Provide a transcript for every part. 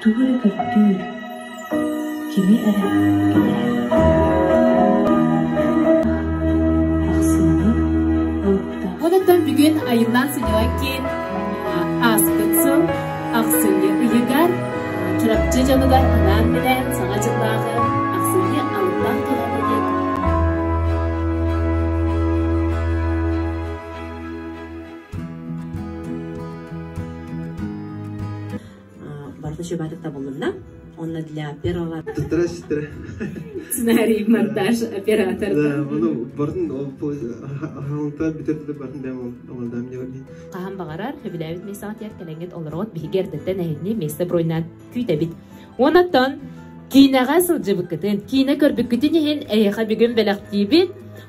тугу эрэ көстүү, кими эрэ кэтэрэр. Оныттан бүгүн айыллаан сынньалаҥ киин ааспыт сыл ахсынньы ыйыгар Чурапчы дьонугар анаан билээн саҥа дьыллааҕы ахсынньы аллаах кэлэммитин барыта чугатык табылынна онно для первого здрасте сценарий монтаж оператор bunu барын хаһаҥтаат бүтэрдэ барын дэм олордо мне орди хаһан баҕарар сөбүлээбит мессаҕытыгар кэлэҥҥит олоруот биһиги эрдэттэн эһинни место бройнаат күүтэбит онон киинэҕэ сылдьыбыккытын киинэ көрбүккүтүн иһин эйиэхэ бүгүн бэлэхтиибит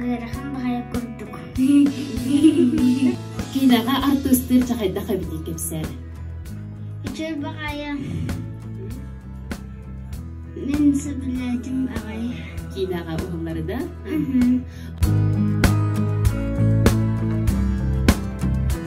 Ыарахан баҕайы курдук. Киинэҕэ артыыстыыр чахайдах эбитий кэпсээнэ. Үчүгэй баҕайы. Мин сөбүлээтим баҕайы. Киинэҕэ уһулларыда?